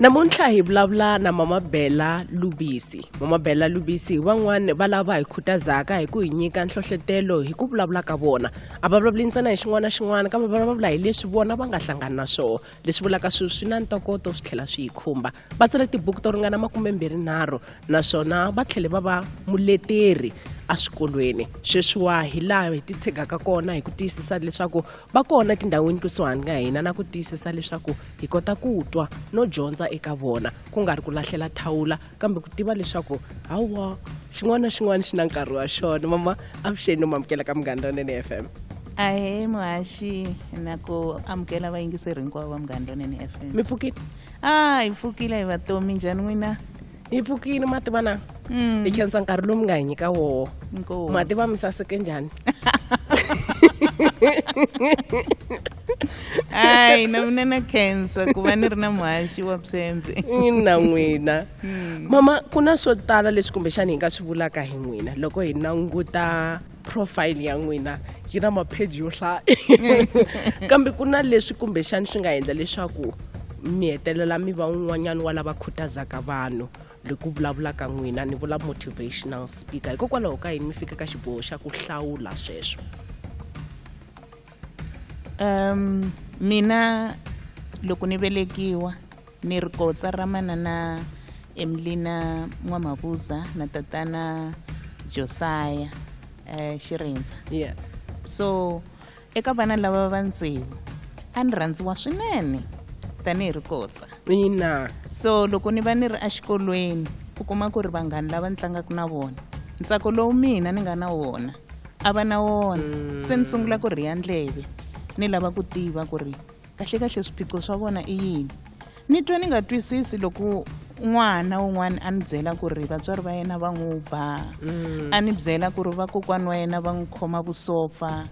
namuntlha hi vulavula na mama bela lubisi mama bela lubisi van'wani va lava hi khutazaka hi ku hi nyika nhlohletelo hi ku vulavula ka vona a va vulavuli ntsena hi xin'wana na xin'wana kambe va vulavula hi leswi vona va nga hlangani na swona leswi vulaka swilo swi na ntokoto swi tlhela swi yi khumba va tsale tibuku to ringana makumembirhinharhu naswona va tlhele va va muleteri eswikolweni sweswiwa hi laha hi titshegaka kona hi ku tiyisisa leswaku va kona tindhawini kusuhani ka hina na ku tiyisisa leswaku hi kota ku twa no dyondza eka vona ku nga ri ku lahlela thawula kambe ku tiva leswaku hawa xin'wana na xin'wana xi na nkarhi wa xona mama avuxeni no mamukela ka munghana lonene f m ahe muhaxi na ku amukela vayingiseri hinkwavo va munghana lonene f m mi pfukile a hi pfukile hi vatomi njhani n'wina hi pfukile ma tiva na mm. hi khensa nkarhi lowu mi nga hi nyika wowo ma tiva mi saseke njhani hayi na mina na khensa ku va ni ri na muhaxi wa psembye ina n'wina hmm. mama ku na swo tala leswi kumbexani hi nga swi vulaka hi n'wina loko hi languta profile ya n'wina yi na mapheji yo hlaya kambe ku na leswi kumbexani swi nga endla leswaku mi hetelela mi va un'wanyana wa lava khutazaka vanhu hi ku vulavulaka n'wina ni vula motivational speaker hikokwalaho ka yini mi fika ka xiboho xa ku hlawula sweswo um mina loko ni velekiwa ni ri kotsa ra manana emilina n'wamavuza na tatana josaya eh, xirindza yeah. so eka vana lava va ntsevu a ni rhandziwa swinene tanihi ri kotsa ina so loko ni va ni ri exikolweni u kuma ku ri vanghani lava ni tlangaka na vona ntsako lowu mina ni nga na wona a va na wona mm. se ni sungula ku rhiya ndleve ni lava ku tiva ku ri Kahlekahle swiphiqo swa vona i yini? Ni twa ni nga twisisi loko n'wana un'wana a ni byela ku ri vatswari va yena va n'wi ba mm. a ni byela ku ri vakokwani wa yena va n'wi khoma vusopfa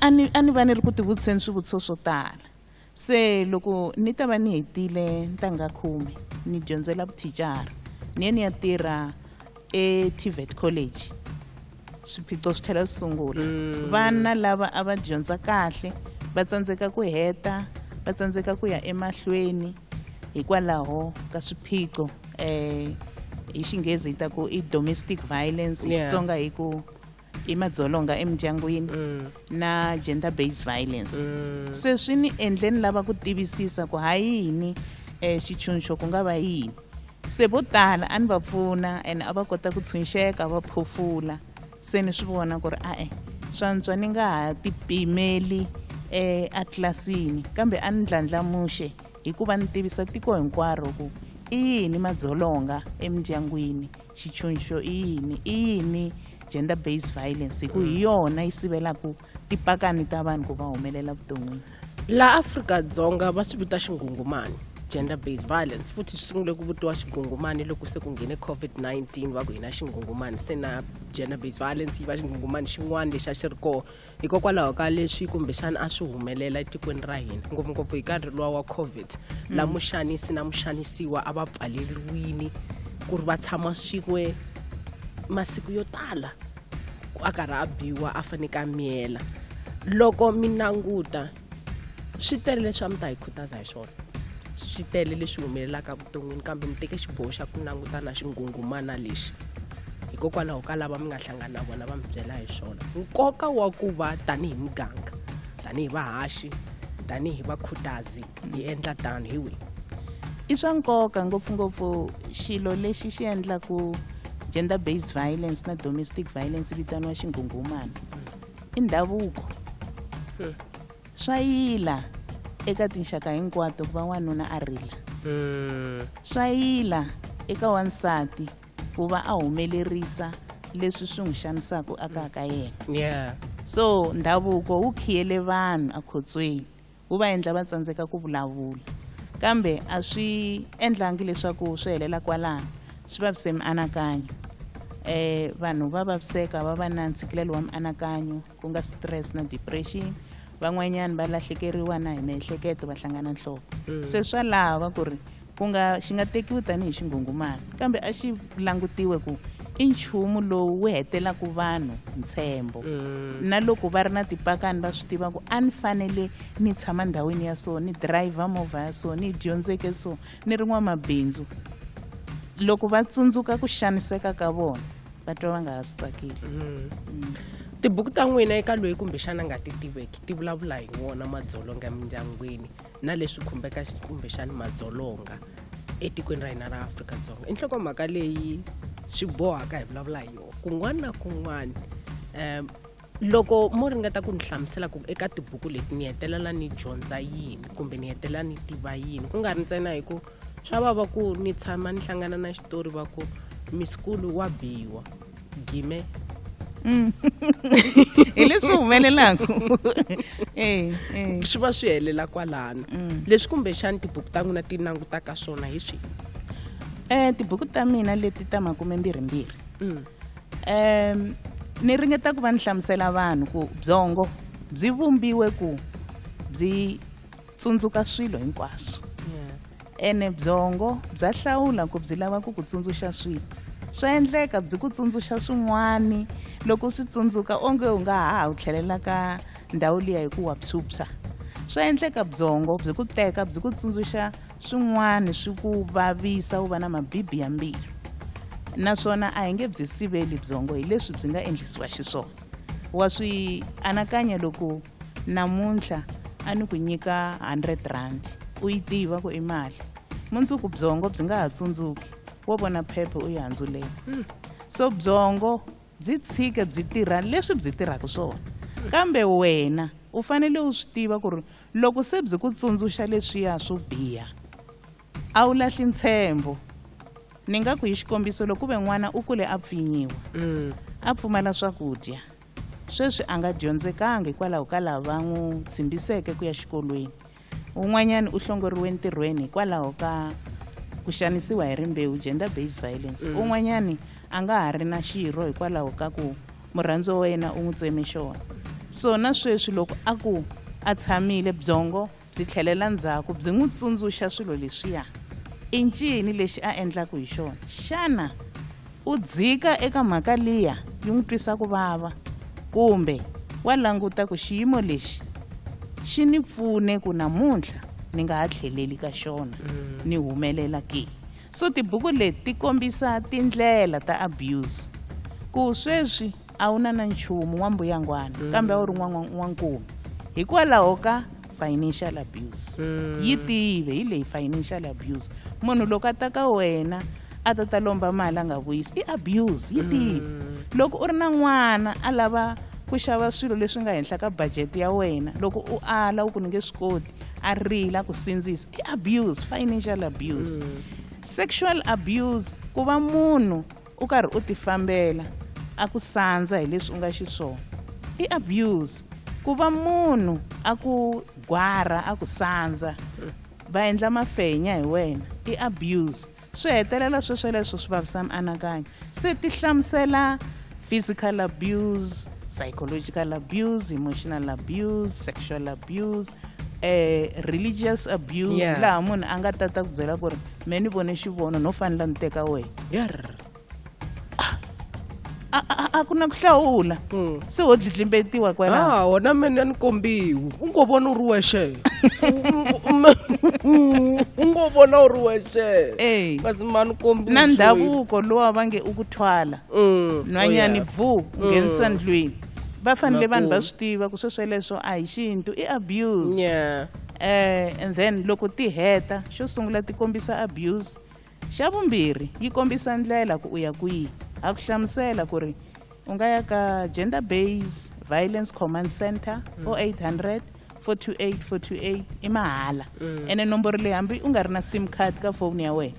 a ni va ni ri ku tivutiseni swivutiso swo tala se loko ni ta va ni hetile ntangha khume ni dyondzela vuthicara ni ye ni ya tirha eTVET College swiphiqo swi tlhela swi sungula mm. vana lava a va dyondza kahle va tsandzeka ku heta va tsandzeka ku ya emahlweni hikwalaho ka swiphiqo um hi xinghezi hi ta ku i domestic violence hi xitsonga hi ku hi madzolonga emindyangwini mm. na gender based violence mm. se swi ni endle ni lava ku tivisisa ku ha yini um eh, xitshunxo ku nga va yini se vo tala a ni va pfuna and a va kota ku tshunxeka va phofula se ni swi vona ku ri a-e swantswa ni nga ha tipimeli um eh, atlilasini kambe a ni ndlandlamuxe hikuva ni tivisa tiko hinkwaro ku i yini madzolonga emindyangwini xitshunxo i yini i yini gender based violence hi ku hi yona yi sivelaka tipakani ta vanhu ku va humelela vuton'wini laha afrika-dzonga va swi vita xingungumani gender based violence futhi swi sungule ku vutiwa xingungumani loko se ku nghene covid-19 va ku hina xingungumani se na gender based violence yi va xingungumani xin'wana lexi a xi ri kona hikokwalaho ka leswi kumbexana a swi humelela etikweni ra hina ngopfungopfu hi nkarhi luwa wa covid mm. la muxanisi na muxanisiwa a va pfaleriwini ku ri va tshama swin'we masiku yo tala a karhi a biwa a faneke a miyela loko mi languta swi tele leswi a mi ta hi khutaza hi swona swi tele leswi humelelaka vuton'wini kambe mi teke xiboho xa ku langutana xinghunghumana lexi hikokwalaho ka lava mi nga hlangana na vona va mi byela hi swona nkoka wa ku va tanihi muganga tanihi vahaxi tanihi vakhutazi hi endla tano hi wihi i swa nkoka ngopfungopfu xilo lexi xi endlaku gender based violence na domestic violence vitaniwa xinghunghumana i ndhavuko hmm. swa yila eka tinxaka hinkwato ku va n'wanuna a rila hmm. swa yila eka wansati ku va a humelerisa leswi swi n'wi xanisaka aka ka yena so ndhavuko wu khiyele vanhu ekhotsweni wu va endla va tsandzeka ku vulavula kambe a swi endlangi leswaku swi helela kwalano swi vavise mianakanyo eh vanhu va vaviseka va va na ntshikilelo wa mianakanyo ku nga stress na depression van'wanyana va lahlekeriwa na hi miehleketo va hlangana nhloko se swa lava ku ri Ku nga xi nga tekiwi tanihi xinghunghumani, kambe a xi langutiwe ku i nchumu lowu wu hetelaka vanhu ntshembo mm. na loko va ri na tipakani va swi tiva ku a ni fanele ni tshama ndhawini ya so ni dirayivha movha ya so ni dyondzeke so ni ri n'wamabindzu loko va tsundzuka ku xaniseka ka vona va twa va nga ha swi tsakeli mm. Mm. tibuku ta n'wina eka loyi kumbexana nga ti tiveki ti vulavula hi wona madzolonga emindyangwini na leswi khumbeka kumbexani madzolonga etikweni ra hina ra afrika-dzonga i nhlokomhaka leyi swi bohaka hi vulavula hi yona kun'wana na kun'wana um loko mo ringeta ku ni hlamusela ku eka tibuku leti ni hetelela ni dyondza yini kumbe ni hetelela ni tiva yini ku nga ri ntsena hi ku swa vava ku ni tshama ni hlangana na xitori va ku misikulu wa biwa gime mm. hi leswi humelelaka eh, eh. swi va swi helela kwalano mm. leswi kumbexani tibuku ta n'wina ti langutaka swona hi swi um tibuku ta mina leti ta makume mbirhimbirhi um mm. ni ringeta ku va ni hlamusela vanhu ku byongo byi vumbiwe ku byi tsundzuka swilo hinkwaswo ene byongo bya hlawula ku byi lava ku ku tsundzuxa swilo swa endleka byi ku tsundzuxa swin'wani loko swi tsundzuka onge u nga ha wu tlhelela ka ndhawu liya hi ku wa phyuphya swa endleka byongo byi ku teka byi ku tsundzuxa swin'wani swi ku vavisa wu va na mabibi ya mbilu naswona a hi nge byi siveli byongo hi leswi byi nga endlisiwa xiswona wa swi anakanya loko namuntlha a ni ku nyika 100 rand u yi tiva ku i mali mundzuku byongo byi nga ha tsundzuki wo vona phephe u yi handzulela hmm. so byongo byi tshike byi tirha leswi byi tirhaka swona kambe wena u fanele u swi tiva ku ri loko se byi ku tsundzuxa leswiya swo biha a wu lahli ntshembo ni nga ku hi xikombiso loko ku ve n'wana u kule a pfinyiwa hmm. a pfumala swakudya Sweswi a nga dyondzekanga hikwalaho ka lava va n'wi tshimbiseke ku ya xikolweni. Un'wanyana u hlongoriwe ntirhweni hikwalaho ka ku xanisiwa hi rimbewu, gender based violence. Mm. Un'wanyana a nga ha ri na xirho hikwalaho ka ku murhandziwa wa yena u n'wi tseme xona. So na sweswi loko a ku a tshamile byongo Byi tlhelela ndzhaku byi n'wi tsundzuxa swilo leswiya. I ncini lexi a endlaku hi xona? Xana u dzika eka mhaka liya yi n'wi twisa ku vava? Kumbe wa languta ku xiyimo lexi xi ni pfune ku namuntlha ni nga ha tlheleli ka xona ni humelela ke? So tibuku leti ti kombisa tindlela ta abuse ku sweswi a wu na na nchumu n'wambuyangwana mm. kambe a wu ri n'wan'wan'wankume hikwalaho ka financial abuse mm. yi tive hi leyi financial abuse munhu loko a ta ka wena a ta ta lomba mali a nga vuyisi i abuse yi tive mm. loko u ri na n'wana a lava ku xava swilo leswi nga henhla ka budget ya wena loko u ala u ku ni nge swi koti a rila ku sindzisa i abuse financial abuse mm. sexual abuse ku va munhu u karhi u tifambela a ku sandza hi leswi u nga xiswona i abuse ku va munhu a ku gwara a ku sandza va endla mafenya hi wena i abuse swi hetelela swesweleswo swi vavisa mianakanyo se ti hlamusela physical abuse psychological abuse emotional abuse sexual abuse eh, religious abuse yeah. laha munhu a nga tata ku byela ku ri me ni vone xivono no fanela ni teka wehe a ku na ku hlawula hmm. se ho dlidlimbetiwa kwalaha ah, wona mene ni kombiwi u ngo vona u ri wexe u ngo vona u ri wexe kasi ma ni kombi na ndhavuko lowa va nge u ku thwala hmm. nhwanyani oh, bvu nghenisa hmm. ndlwini va fanele vanhu va swi tiva ku swe sweleswo a hi xintu i abuse yeah. eh, and then loko ti heta xo sungula ti kombisa abuse xa vumbirhi yi kombisa ndlela ku u ya kwihi a ku hlamusela ku ri u nga ya ka gender base violence command center mm. o 800 428 428 i mahala mm. ene nomboro leyi hambi u nga ri na sim card ka foni ya wena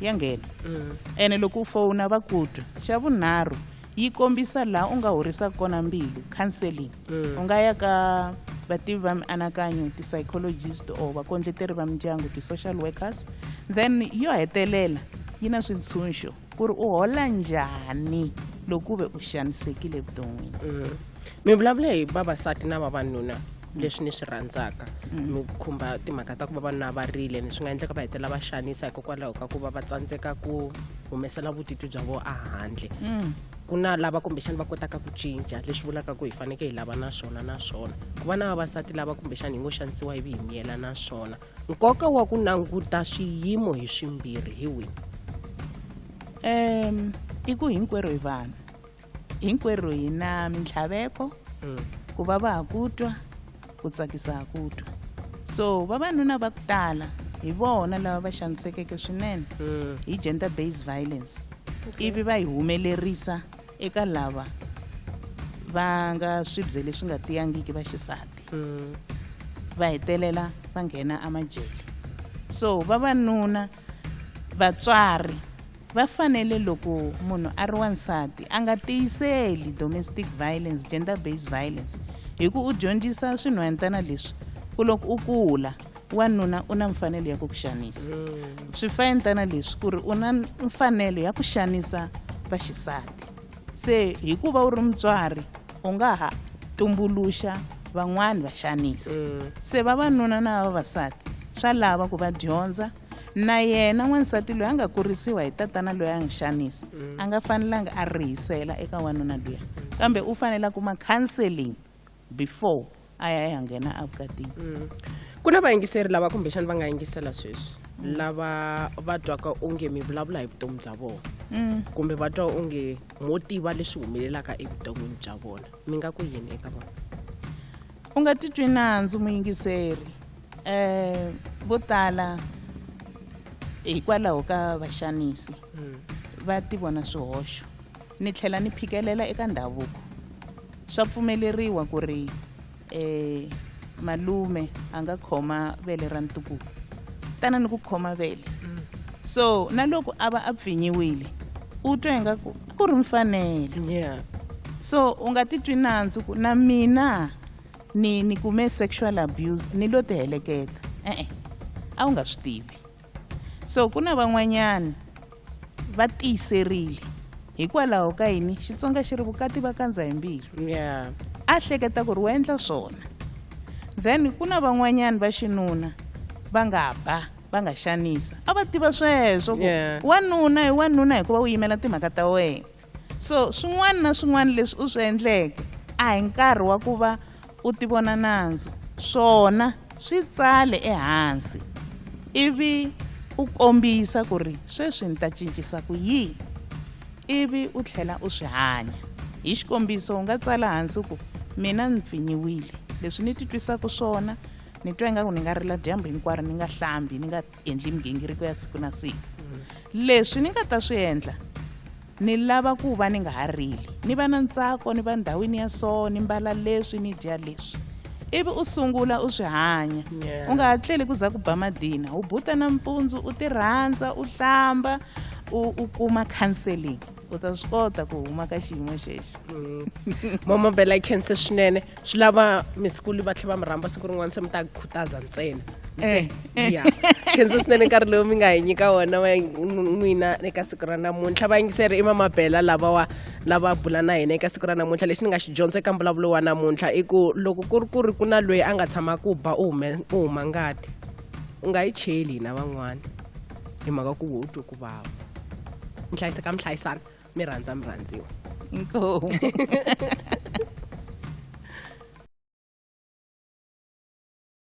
ya nghena mm. ene loko u fona va ku twa xa vunharhu yi kombisa laha u nga horisaka kona mbilu counseling mm. u nga ya ka vativi va mianakanyo ti-psychologist or vakondleteri va mindyangu ti-social workers then yo hetelela yi na swintshunxo ku ri u hola njhani loko u ve u xanisekile evuton'wini mm. mi vulavule hi vavasati na vavanuna leswi ni swi rhandzaka mi khumba timhaka ta ku vavanuna va rile ni swi nga endleka va hetelela va xanisa hikokwalaho ka ku va va tsandzeka ku humesela vutitwi bya vo ahandle ku na lava kumbexani va kotaka ku cinca leswi vulaka ku hi faneke hi lava na swona na swona ku va na vavasati lava kumbexani hi ngo xanisiwa ivi hi miyela na swona nkoka wa ku languta swiyimo hi swimbirhi hi wihi um i ku hinkwerhu hi vanhu hinkwerhu hi na mintlhaveko mm. ku va va ha ku twa ku tsakisa ha ku twa so vavanuna va ku tala hi vona lava va xanisekeke swinene mm. hi gender based violence ivi va yi humelerisa eka lava va nga swibye leswi nga tiyangiki va xisati mm. va hetelela va nghena amajele so vavanuna vatswari va fanele loko munhu a ri wansati a nga tiyiseli domestic violence gender based violence hi ku u dyondzisa swinhwanyantana leswi ku loko u kula wanuna u na mfanelo ya ku ku xanisa mm. swifayentana leswi ku ri u na mfanelo ya ku xanisa vaxisati Se hikuva u ri mutswari u nga ha tumbuluxa van'wani vaxanisi. Mm. Se vavanuna na vavasati swa lava ku va dyondza na yena n'wansati loyi a nga kurisiwa hi tatana loyi a n'wi xanisa mm. a nga fanelanga a rihisela eka wanuna luya kambe u fanele a kuma counseling before a ya ya nghena evukatini mm. ku na vayingiseri lava kumbexani va nga yingisela sweswi mm. lava va twaka onge mi vulavula hi vutomi bya vona mm. kumbe va twa onge mo tiva leswi humelelaka evuton'wini bya vona mi nga ku yini eka vona u nga titwi nandzu muyingiseri um vo tala hikwalaho ka vaxanisi va ti vona swihoxo ni tlhela ni phikelela eka ndhavuko Swa pfumeleriwa ku ri e, malume a nga khoma vele ra ntukulu tana ni ku khoma vele mm. so na loko a va a pfinyiwile u twa ingaku a ku ri mfanelo yeah. so u nga titwi nandzu ku na mina ni ni kume sexual abuse ni lo tiheleketa e-e a wu nga swi tivi So ku na van'wanyana va tiyiserile hikwalaho ka yini Xitsonga xi ri vukati va kandza hi mbilu. Yeah. A hleketa ku ri wa endla swona. Then ku na van'wanyana va xinuna va nga ba va nga xanisa a va tiva sweswo ku Yeah. wanuna hi wanuna hikuva u yimela timhaka ta wena. so swin'wana na swin'wana leswi u swi endleke a hi nkarhi wa ku va u tivona nandzu swona swi tsale ehansi ivi u kombisa ku ri sweswi ni ta cincisa ku yini ivi u tlhela u swi hanya hi xikombiso u nga tsala hansi ku mina ni pfinyiwile leswi ni titwisaka swona ni twa ingaku ni nga rila dyambu hinkwaro ni nga hlambi ni nga endli migingiriko ya siku na siku leswi ni nga ta swi endla ni lava ku va ni nga ha rili ni va na ntsako ni va ndhawini ya so ni mbala leswi ni dya leswi ivi u sungula u swi hanya u nga ha tleli ku za ku ba madina u buta nampundzu u ti rhandza u hlamba u kuma counseling u ta swi kota ku huma ka xiyimo xexo mm. mama bela yi khense swinene swi lava misikulu va tlhela va mi rhamba siku rin'wana se mi ta khutaza ntsena eh. ya khense swinene nkarhi lowu mi nga hi nyika wona wa n'wina eka siku ra namuntlha vayingiseri i mama bela lavawa lava bula na hina eka siku ra namuntlha lexi ni nga xi dyondza eka mbulavulo wa namuntlha i ku loko ku ri ku ri ku na loyi a nga tshama ku ba u huma ngati u nga yi cheli hina van'wana hi mhaka ku wo twe ku vava mi hlayiseka mi hlayisana mi rhandza mi rhandziwa inkomu